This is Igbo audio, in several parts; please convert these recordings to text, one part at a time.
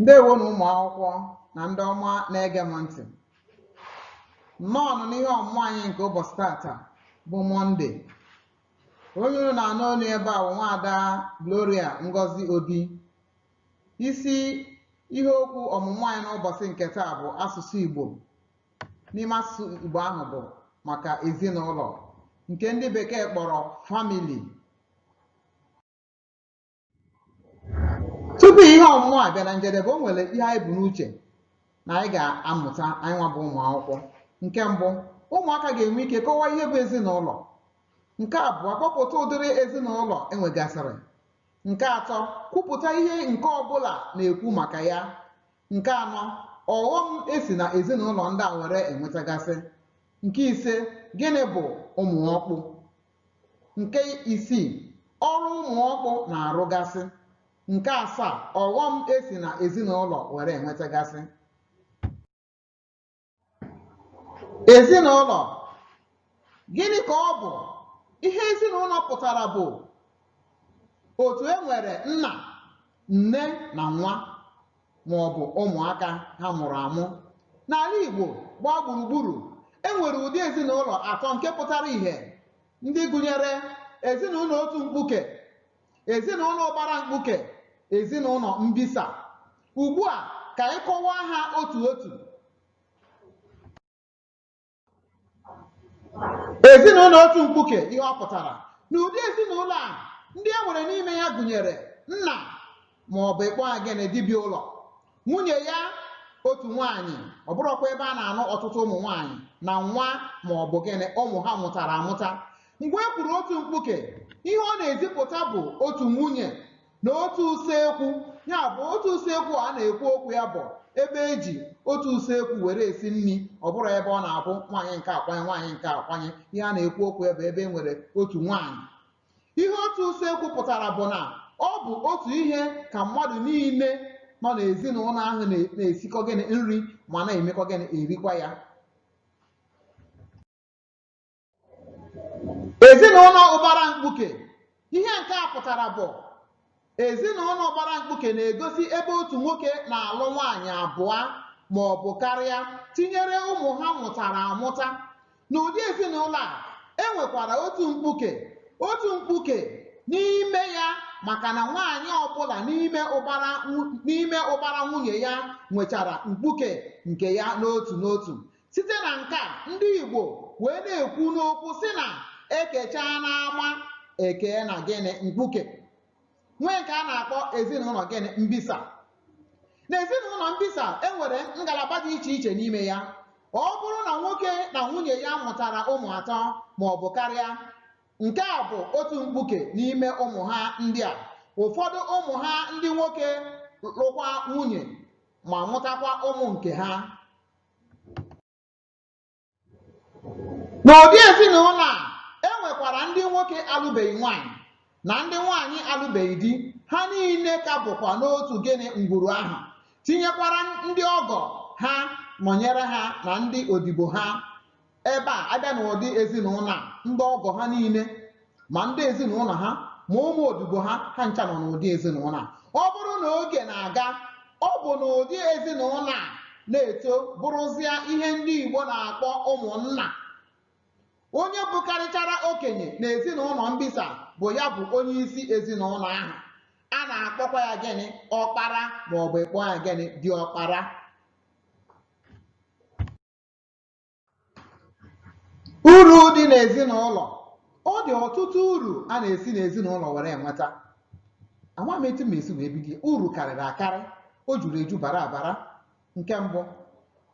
ndewo nụ ụmụ akwụkwọ na ndị ọma na-ege m ntị nnọọ nụ n'ihe ọmụmụ anyị nke ụbọchị tata bụ mọnde onye unu na-anụ olu ebe a bụ nwaada gloria ngozi obi isi ihe okwu ọmụmụ anyị n'ụbọchị nke taa bụ asụsụ igbo n'ime asụsụ igbo ahụ bụ maka ezinụlọ nke ndị bekee kpọrọ family tupu ihe ọmụmụ a bịa na njedebe o nwere ihe anyị bu n'uche na anyị ga-amụta anyị nwa bụ ụmụ akwụkwọ nke mbụ ụmụaka ga-enwe ike kọwaa ihe bụ ezinụlọ nke abụọ kpọpụta ụdịrị ezinụlọ e nwegasịrị nke atọ kwupụta ihe nke ọbụla na-ekwu maka ya nke anọ ọghọm e si na ezinụlọ ndị a were enwetagasị nke ise gịnị bụ ụmụ ọkpụ Nke isii, ọrụ ụmụ ọkpụ na-arụgasị. Nke asaa, ọghọm e si na ezinụlọ were enwetagasị. Ezinụlọ, gịnị ka ọ bụ? Ihe ezinụlọ pụtara bụ otu e nwere nna, nne na nwa. ma ọ bụ ụmụaka ha mụrụ amụ n'ala Igbo gbaa gburugburu e nwere ụdị ezinụlọ atọ nke pụtara ihe ndị gụnyere ezinụlọ otu mkpuke ezinụlọ ụbara mkpuke ezinụlọ mbisa ugbu a ka anyị kọwaa ha otu otu ezinụlọ otu mkpuke ihe ọ pụtara n'ụdị ezinụlọ a ndị e nwere n'ime ya gụnyere nna ma ọ bụ ịkpọ ya gịnị di bi ụlọ nwunye ya otu nwaanyị ọ bụrọkwa ebe a na-anụ ọtụtụ ụmụ nwaanyị na nwa ma ọ bụ gịnị ụmụ ha mụtara amụta mgbe e kwuru otu mkpuke ihe ọ na-ezipụta bụ otu nwunye na otu usekwu ya bụ otu usekwu a na-ekwu okwu ya bụ ebe e ji otu usekwu were esi nri ọ bụrọ ebe ọ na-abụ nwaanyị nke a kwanye nwaanyị nke a kwanye ihe a na-ekwu okwu ya bụ ebe e nwere otu nwaanyị ihe otu usekwu pụtara bụ na ọ bụ otu ihe ka mmadụ niile nọ n'ezinụlọ ahụ na- na-esikọ gịnị nri ma na-emekọ gịnị erikwa ya ezinụlọ ụbara mkpuke ihe nke a pụtara bụ ezinụlọ ụbara mkpuke na-egosi ebe otu nwoke na-alụ nwaanyị abụọ ma ọ bụ karịa tinyere ụmụ ha mụtara amụta n'ụdị ezinụlọ a e nwekwara otu mkpuke otu mkpuke n'ime ya maka na nwaanyị ọbụla n'ime ụbara nwunye ya nwechara mkpuke nke ya n'otu n'otu Site na nke a, ndị Igbo wee na-ekwu n'okwu sị na ekechaa n'ama ekee na gịnị mkpuke nwee nke a na-akpọ ezinụlọ gịnị mbisa na ezinụlọ mbisa enwere ngalaba dị iche iche n'ime ya ọ bụrụ na nwoke na nwunye ya mụtara ụmụ atọ ma ọ bụ karịa nke a bụ otu mkpuke n'ime ụmụ ha ndị a ụfọdụ ụmụ ha ndị nwoke lụkwa nwunye ma mụtakwa ụmụ nke ha N'ụdị ezinụlọ a, e nwekwara ndị nwoke alụbeghị nwaanyị na ndị nwaanyị alụbeghị di, ha niile ka bụkwa n'otu gịnị ngwuru ahụ, tinyekwara ndị ọgọ ha nọnyere ha na ndị odibo ha. ebe a a bịa n'ụdị ezinụlọ a ndị ọgọ ha niile ma ndị ezinụlọ ha ma ụmụ odibo ha ha ncha nọ n'ụdị ezinụlọ a ọ bụrụ na oge na-aga ọ bụ n'ụdị ezinụlọ a na-eto bụrụzịa ihe ndị Igbo na-akpọ ụmụnna onye bụkarịchara okenye na ezinụlọ mbisa bụ ya bụ onye isi ezinụlọ ahụ a na-akpọkwa ya gịnị ọkpara maọbụ ịkpọ ya gịnị diọkpara Uru dị n'ezinụlọ. Ọ dị ọtụtụ uru a na-esi n'ezinụlọ were enweta. Ama m etu m esi wee bido. Uru karịrị akarị. O juru eju bara abara. Nke mbụ,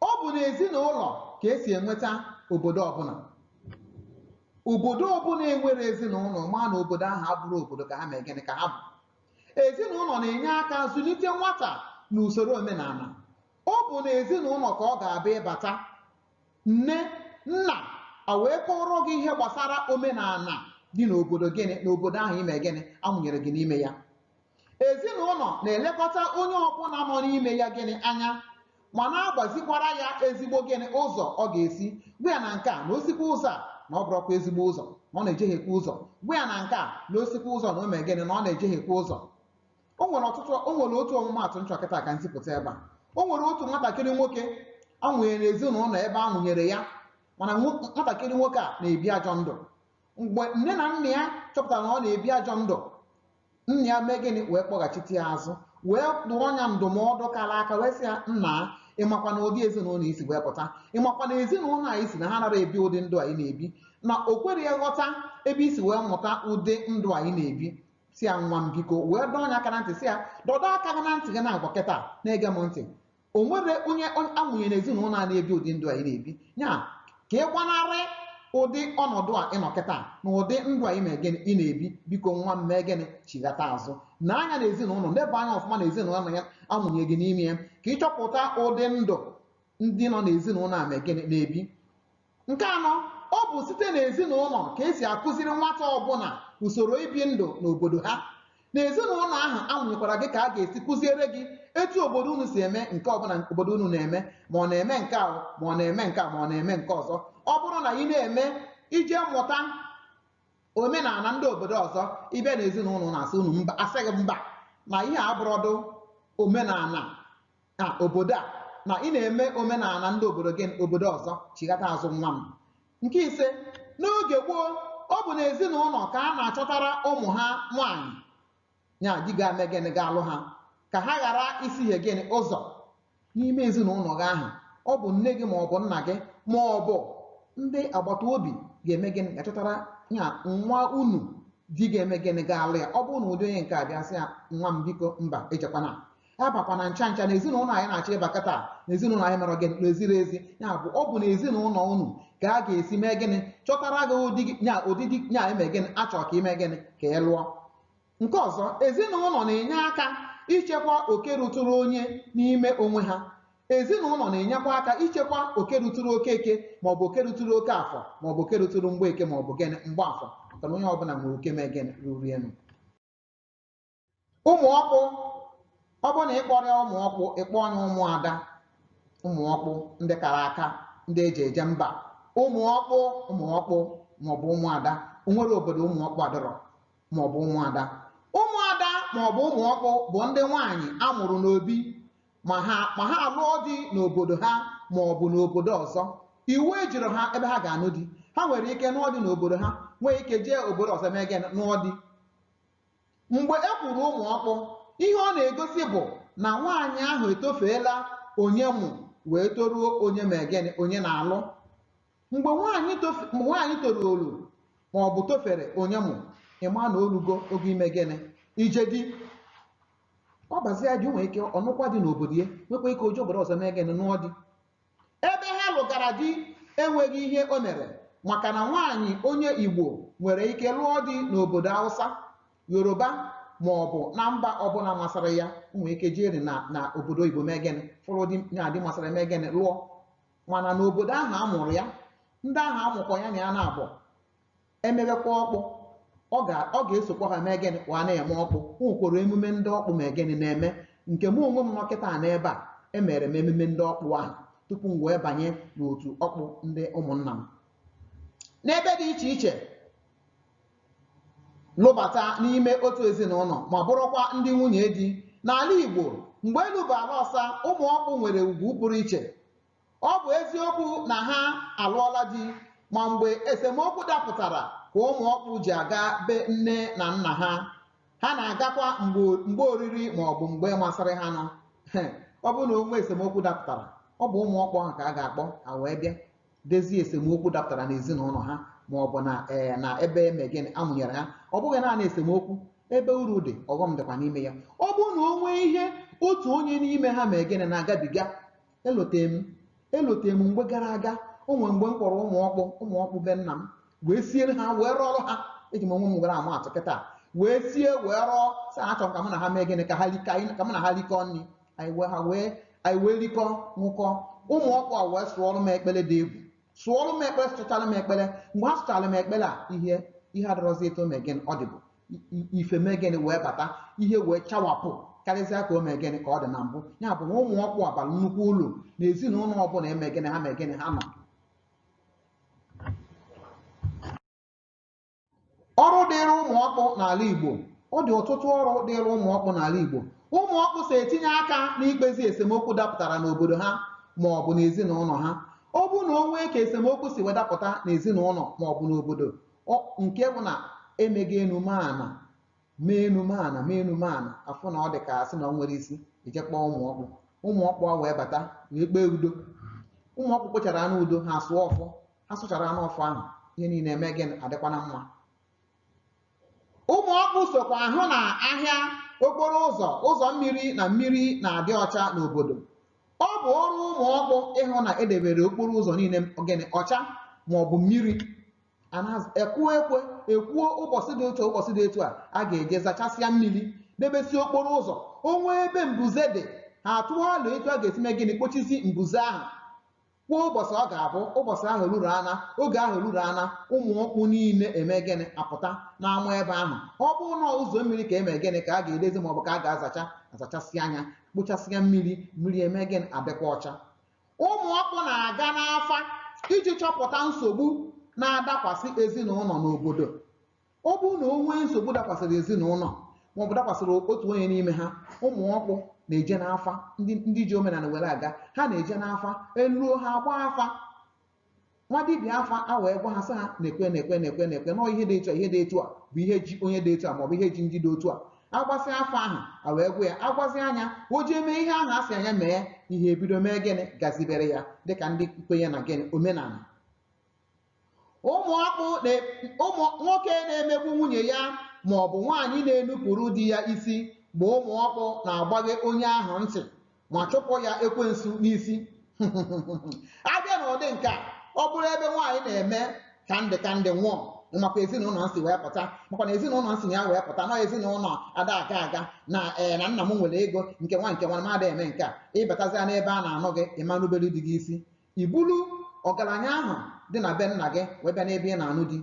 ọ bụ n'ezinụlọ ka e si enweta obodo ọbụla. Obodo ọbụla enwere ezinụlọ, maa na obodo ahụ abụrụ obodo ka ha mee gịnị ka ha bụ. Ezinụlọ na-enye aka zụlite nwata n'usoro omenala. ọ bụ na ezinụlọ ka ọ ga-abụ ị bata nne nna a wee kọọrọ gị ihe gbasara omenala dị n'obodo gịnị n'obodo ahụ ime gịnị a mụnyere gị n'ime ya ezinụlọ na-elekọta onye ọbụla nọ n'ime ya gịnị anya ma na-agbazikwara ya ezigbo gịnị ụzọ ọ ga-esi gwa ya na nke a na o sikwa ụzọ a na ọ bụrụkwa ezigbo ụzọ na ọ na-ejehekwa ụzọ gwa ya na nke a na o sikwa ụzọ na o mee gịnị na ọ na-ejehekwa ụzọ o nwere ọtụtụ o nwere otu ọmụmaatụ m chọ kịta ka m zipụta ebe a o nwere otu nwatakịrị nwoke a mụnyere n'ezinụlọ ebe a mụnyere ya mana nwo- nwatakịrị nwoke a na-ebi ajọ ndụ mgbe nne na nna ya chọpụtara na ọ na-ebi ajọ ndụ nna ya mee gịnị wee kpọghachite ya azụ wee dụọ ya ndụmọdụ kara aka wee sị ya nna ị makwa na ụdị ezinụlọ i si wee pụta ị makwa na ezinụlọ a i si na ha anara ebi ụdị ndụ a ị na-ebi na o kwere ya ghọta ebe i si wee mụta ụdị ndụ a ị na-ebi sị ya nwa m biko wee dọọ ya aka na ntị sị ya dọdọ aka gị na ntị gị na-agwa kịta na-ege m ntị o nwere onye a mụnye na ezinụlọ a na-ebi ụdị ndụ a ị na-ebi ya ka ị gbanarị ụdị ọnọdụ a ị nọ kịta na ụdị ndụ a ị mee gịnị na-ebi biko nwa m mee gịnị chighata azụ nee anya na ezinụlọ leba anya ọfụma na ezinụlọ na ya a mụnye gị n'ime ya ka ị chọpụta ụdị ndụ ndị nọ n'ezinụlọ a mee gịnị na-ebi Nke anọ, ọ bụ site n'ezinụlọ ka e si akụziri nwata ọbụla usoro ibi ndụ n'obodo ha. N'ezinụlọ ahụ a mụnyekwara gị ka a ga-esi kụziere gị etu obodo unu si eme nke ọbụla obodo unu na-eme, ma ọ na-eme nke a, ma ọ na-eme nke a, ma ọ na-eme nke ọzọ. Ọ bụrụ na ị na-eme ị jee mụta omenala ndị obodo ọzọ, ị bịa n'ezinụlọ a sị unu mba, a sị gị mba na ihe a abụrọdụ omenala na obodo a na ị na-eme omenala ndị obodo gịnị obodo ọzọ chighata azụ nwa m nke ise n'oge gboo ọ bụ na ezinụlọ ka a na-achọtara ụmụ ha nwaanyị ya di ga-eme gịnị ga-alụ ha ka ha ghara isihie gịnị ụzọ n'ime ezinụlọ gị ahụ ọ bụ nne gị ma ọ bụ nna gị ma ọ bụ ndị agbata obi ga-eme gịnị ga-achọtara ya nwa unu di ga-eme gịnị ga-alụ ya ọ bụrụ na ụdị onye nke a bịa sị ya nwa m biko mba ejekwana abakwana ncha ncha na ezinụlọ anyị na-achọ ịba kịta na ezinụlọ anyị mere gịnị na ezirọ ezi ya bụ ọ bụ na ezinụlọ unu ka a ga-esi mee gịnị chọtara gị ụdị di- nya ụdị di nya eme gịnị a chọrọ ka ị mee gịnị ka ị lụọ nke ọzọ ezinụlọ na-enye aka ichekwa oke ruturu onye n'ime onwe ha ezinụlọ na-enyekwa aka ichekwa oke ruturu Okeke maọbụ oke ruturu Okafọ maọbụ oke ruturu Mgbeke maọbụ gịnị Mgbafọ maka na onye ọbụla nwere oke mee gịnị ruru enu ụmụ ọkpụ ọ bụrụ na ị kpọrọ ya ụmụ ọkpụ ị kpọọ ya ụmụ ada ụmụ ọkpụ ndị kara aka ndị e ji eje mba ụmụ ọkpụ ụmụ ọkpụ maọbụ ụmụ ada o nwere obodo ụmụ ọkpụ adọrọ maọbụ ụmụ ada ụmụ ada maọbụ ụmụ ọkpụ bụ ndị nwaanyị a mụrụ n'obi ma ha alụọ di n'obodo ha maọbụ n'obodo ọzọ iwu ejirọ ha ebe ha ga-anụ di ha nwere ike nụọ di n'obodo ha nwee ike jee obodo ọzọ mee gịnị nụọ di mgbe e kwuru ụmụ ọkpụ ihe ọ na-egosi bụ na nwaanyị ahụ etofeela onye mụ wee toruo onye mee gịnị onye na-alụ mgbe nwaanyị toruru ma ọ bụ tofere onye mụ ị ma na o lugo oge ime gịnị ije di ọ bazie di o nwere ike ọ nụkwa di n'obodo ya nwekwa ike o jee obodo ọzọ mee gịnị nụọ di Ebe ha lụgara di enweghị ihe o mere maka na nwaanyị onye Igbo nwere ike lụọ di n'obodo Hausa, Yoruba ma ọ bụ na mba ọbụla masịrị ya. O nwere ike jere na obodo oyibo mee gịnị fụrụ di nya di masịrị ya mee gịnị lụọ mana n'obodo ahụ a mụrụ ya ndị ahụ a mụkọ ya na ya na-abụ emebekwa ọkpụ ọ ga ọ ga-esokwa ha mee gịnị wee na-eme ọkpụ o nwekwara emume ndị ọkpụ mee gịnị na-eme nke mụ onwe m nọ kịta n'ebe a emere m emume ndị ọkpụ ahụ tupu m wee banye n'otu ọkpụ ndị ụmụnna m n'ebe dị iche iche lụbata n'ime otu ezinụlọ ma bụrụkwa ndị nwunye di n'ala Igbo mgbe elu bụ ala ọsa ụmụ ọkpụ nwere ugwu pụrụ iche Ọ bụ eziokwu na ha alụọla di ma mgbe esemokwu dapụtara ka ụmụ ọkpụ ji aga be nne na nna ha. Ha na-agakwa mgbe oriri ma ọ bụ mgbe masịrị ha nụ. Ọ bụrụ na o nwee esemokwu dapụtara, ọ bụ ụmụ ọkpụ ahụ ka a ga-akpọ ha wee bịa dezie esemokwu dapụtara n'ezinụlọ ha ma ọ bụ na ee na ebe eme gịnị a mụnyere ha. Ọ bụghị naanị esemokwu, ebe uru dị, ọghọm dịkwa n'ime ya. Ọ bụrụ na o nwee ihe otu onye n'ime ha mee gịnị na-agabiga, elote m elote m mgbe gara aga o nwere mgbe m kpọrọ ụmụ ọkpụ ụmụ ọkpụ be nna m wee siere ha wee rọrọ ha eji m onwe m were ama atụ kịta wee sie wee rọọ sị ha achọrọ m ka mụ na ha mee gịnị ka ha rika ka mụ na ha rikọọ nri anyị wee ha wee anyị wee rikọ nwụkọ ụmụ ọkpụ a wee sụọrọ m ekpere dị egwu sụọrọ m ekpere sụchara m ekpere mgbe ha sụchara m ekpere a ihe ihe adịrọzi etu o mee gịnị ọ dịbụ ife mee gịnị wee bata ihe wee chawapụ karịzịa ka o mee gịnị ka ọ dị na mbụ ya bụ na ụmụ ọkpụ a bara nnukwu uru na ezinụlọ ọbụla eme gịnị ha mee gịnị ha nọ ọrụ dịịrị ụmụ ọkpụ n'ala Igbo ọ dị ọtụtụ ọrụ dịịrị ụmụ ọkpụ n'ala Igbo ụmụ ọkpụ so etinye aka n'ikpezi esemokwu dapụtara n'obodo ha ma ọ bụ n'ezinụlọ ha ọ bụrụ na o nwee ka esemokwu si wee dapụta n'ezinụlọ ma ọ bụ n'obodo nke bụ na emega enu mee ana mee enu mee ana mee enu mee ana afụ na ọ dị ka asị na o nwerọ isi eje kpọọ ụmụ ọkpụ ụmụ ọkpụ a wee bata wee kpee udo ụmụ ọkpụ kpechara anụ udo ha sụọ ọfọ ha sụchara anụ ọfọ ahụ ihe niile eme gịnị adịkwa na mma ụmụ ọkpụ sokwa ahụ na ahịa okporo ụzọ ụzọ mmiri na mmiri na-adị ọcha n'obodo ọ bụ ọrụ ụmụ ọkpụ ịhụ na edebere okporo ụzọ niile gịnị ọcha ma ọ bụ mmiri akụọ ekwe ekwuo ụbọchị dị otu ụbọchị dị otu a a ga-eje zachasịa mmiri debesie okporo ụzọ o nwee ebe mbuze dị ha atụọ alo etu a ga-esi mee gịnị kpochisi mbuze ahụ kwuo ụbọchị ọ ga-abụ ụbọchị ahụ ruru ana oge ahụ ruru ana ụmụ ọkpụ niile eme gịnị apụta n'ama ebe ahụ ọ bụrụ na ụzọ mmiri ka eme gịnị ka a ga-edezi maọbụ ka a ga-azacha azachasịa nya kpochasịa mmiri mmiri eme gịnị adịkwa ọcha ụmụ ọkpụ na-aga n'afa iji chọpụta nsogbu na-adakwasị ezinụlọ n'obodo ọ bụrụ na o nwee nsogbu dakwasịrị ezinụlọ maọbụ dakwasịrị otu onye n'ime ha ụmụ ọkpụ na-eje n'afa ndị ndị ji omenala were aga ha na-eje n'afa eluo ha agbaa afa nwa dibịa afa a wee gwa ha sị ha na-ekwe na-ekwe na-ekwe na-ekwe nọọ ihe dị etu a ihe dị etu a bụ ihe ji onye dị etu a maọbụ ihe ji ndị dị otu a agbasịa afa ahụ a wee gwa ya agwazịa nya o jee mee ihe ahụ a sị nya mee ihe ebido mee gịnị gazibere ya dịka ndị kwenye na gịnị omenala ụmụ ọkpụ na- ụmụ nwoke na-emegbu nwunye ya ma ọ bụ nwaanyị na-enupụrụ di ya isi bụ ụmụ ọkpụ na-agbaghe onye ahụ ntị ma chụpụ ya ekwensu n'isi abịa na ụdị nke a ọ bụrụ ebe nwaanyị na-eme ka ndị ka ndị nwụọ makwa ezinụlọ m si wee pụta makwa na ezinụlọ m si ya wee pụta na ezinụlọ ada aga aga na ee eh, na nna m nwere ego nke nwa nke nwa m ada eme nke a ị batazịa n'ebe a na-anụ gị ị ma rubere di gị isi i bulu ọgaranya ahụ dị na be nna gị wee bịa n'ebe ị na-anụ di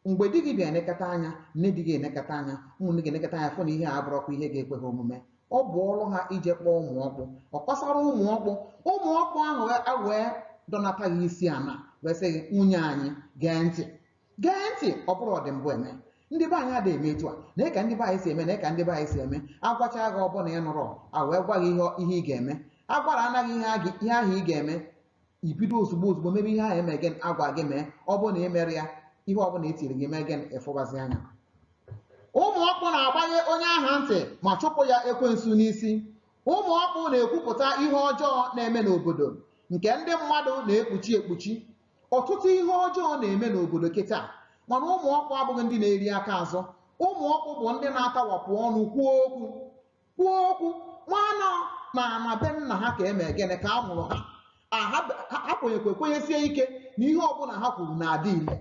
mgbe di gị bịa enekata anya nne di gị enekata anya ụmụnne gị enekata anya fụ na ihe a abụrọkwa ihe ga-ekwe ha omume ọ bụ ọrụ ha ije kpọọ ụmụ ọkpụ ọ kọsara ụmụ ọkpụ ụmụ ọkpụ ahụ a wee dọnata gị isi ana wee sị gị nwunye anyị gee ntị gee ntị ọ bụrụ ọdịmbụ eme ndị be anyị adịghị eme etu a na ka ndị be anyị si eme na ka ndị be anyị si eme agwacha gị ọ bụ na ị nụrụ a wee gwa gị ihe ihe ị ga-eme agwarana gị ihe a ga- ihe ahụ ị ga-eme i bido ozugbo ozugbo mebe ihe ahụ eme gịnị agwa gị mee ọ bụrụ na ị mere ya ihe ọbụla e tiri gị mee gịnị ịfụbazi anya ụmụ ọkpụ na-agbaghe onye ahụ ntị ma chụpụ ya ekwensu n'isi ụmụ ọkpụ na-ekwupụta ihe ọjọọ na-eme n'obodo nke ndị mmadụ na-ekpuchi ekpuchi ọtụtụ ihe ọjọọ na-eme n'obodo kịta mana ụmụ ọkpụ abụghị ndị na-eri aka azụ ụmụ ọkpụ bụ ndị na-atawapụ ọnụ kwuo okwu kwuo okwu nwa na ana be nna ha ka eme gịnị ka a mụrụ ha aha ha kwenyekwa kwenyesie ike na ihe ọbụla ha kwuru na-adị ile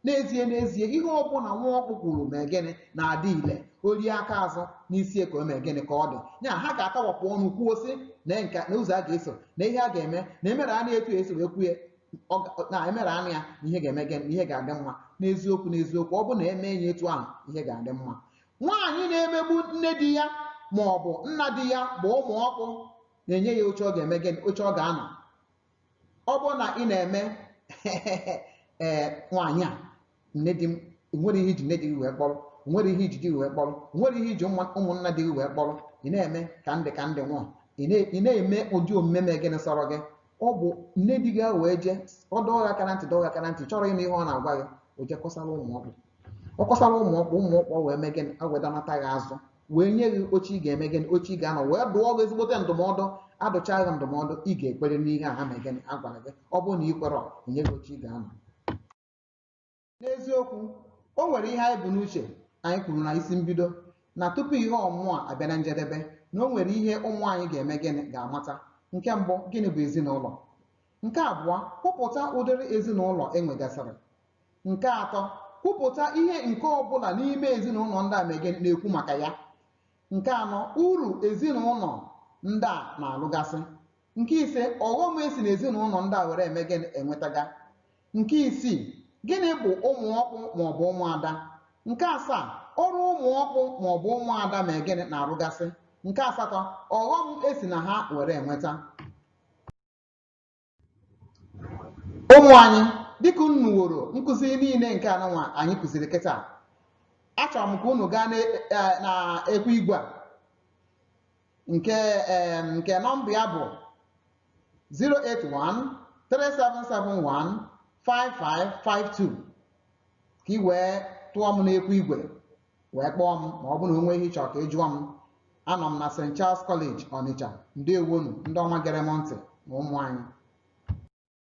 n'ezie n'ezie ihe ọbụla nwa ọkpụ kwuru mee gịnị na-adị ile o rie aka azụ n'isi ka o mee gịnị ka ọ dị ya ha ga-atawapụ ọnụ kwuo sị na nka na ụzọ a ga-eso na ihe a ga-eme na emerenụ etu e si wee kwuo ya ọ ga- na emerenụ ya na ihe ga-eme gịnị na ihe ga-adị mma n'eziokwu n'eziokwu ọ bụ na eme ya etu ahụ ihe ga-adị mma nwaanyị na-emegbu nne di ya ma ọ bụ nna di ya bụ ụmụ ọkpụ na-enye ya oche ọ ga-eme gịnị oche ọ ga-anọ ọ bụrụ na ị na-eme ee nwaanyị a nne di e nwerọ ihe i ji nne di gị wee kpọrọ nwerọ ihe i ji di gị wee kpọrọ nwerọ ihe i ji ụmụ- ụmụnna di gị wee kpọrọ ị na-eme ka ndị ka ndị nwụọ ị na- ị na-eme ụdị omume mee gịnị sọrọ gị ọ bụ nne di gị a wee jee ọ dọọ gị aka na ntị dọọ gị aka na ntị chọrọ ịnụ ihe ọ na-agwa gị o jee kọsara ụmụ ọkpụ ọ kọsara ụmụ ọkpụ ụmụ ọkpụ wee mee gịnị a wee dọnata gị azụ wee nye gị oche ị ga-eme gịnị oche ị ga-anọ wee dụọ gị ezigbote ndụmọdụ adụcha gị ndụmọdụ ị ga-ekwere n'ihe a ha mee gịnị a gwara gị ọ bụrụ na ị kwerọ e nye gị oche ị ga-anọ N'eziokwu, o nwere ihe anyị bu n'uche anyị kwuru na isi mbido na tupu ihe ọmụmụ a abịa na njedebe na o nwere ihe ụmụ anyị ga-eme gịnị ga-amata. Nke mbụ, gịnị bụ ezinụlọ? Nke abụọ, kwupụta ụdịrị ezinụlọ e nwegasịrị. Nke atọ, kwupụta ihe nke ọ bụla n'ime ezinụlọ ndị a mee gịnị na-ekwu maka ya. Nke anọ, uru ezinụlọ ndị a na-alụgasị. Nke ise, ọghọm e si n'ezinụlọ ndị a were eme gịnị enwetaga. nke isii gịnị bụ ụmụ ọkpụ maọbụ ụmụada nke asaa ọrụ ụmụ ọkpụ maọbụ ụmụada mee gịnị na-arụgasị nke asatọ ọghọm e si na ha were enweta ụmụ anyị dịka unu woro nkụzi niile nke a nụnwa anyị kụziri kịta achọrọ m ka unu gaa n'ekwe igwe a nke em, nke nọmba ya bụ 08137715552 ka i wee tụọ m n'ekwu igwe wee kpọọ m ma ọ bụrụ na o nwee ihe ị chọrọ ka ị jụọ m anọ m na St. Charles College Ọnịcha ndewonu ndị ọma gere m ntị na ụmụ anyị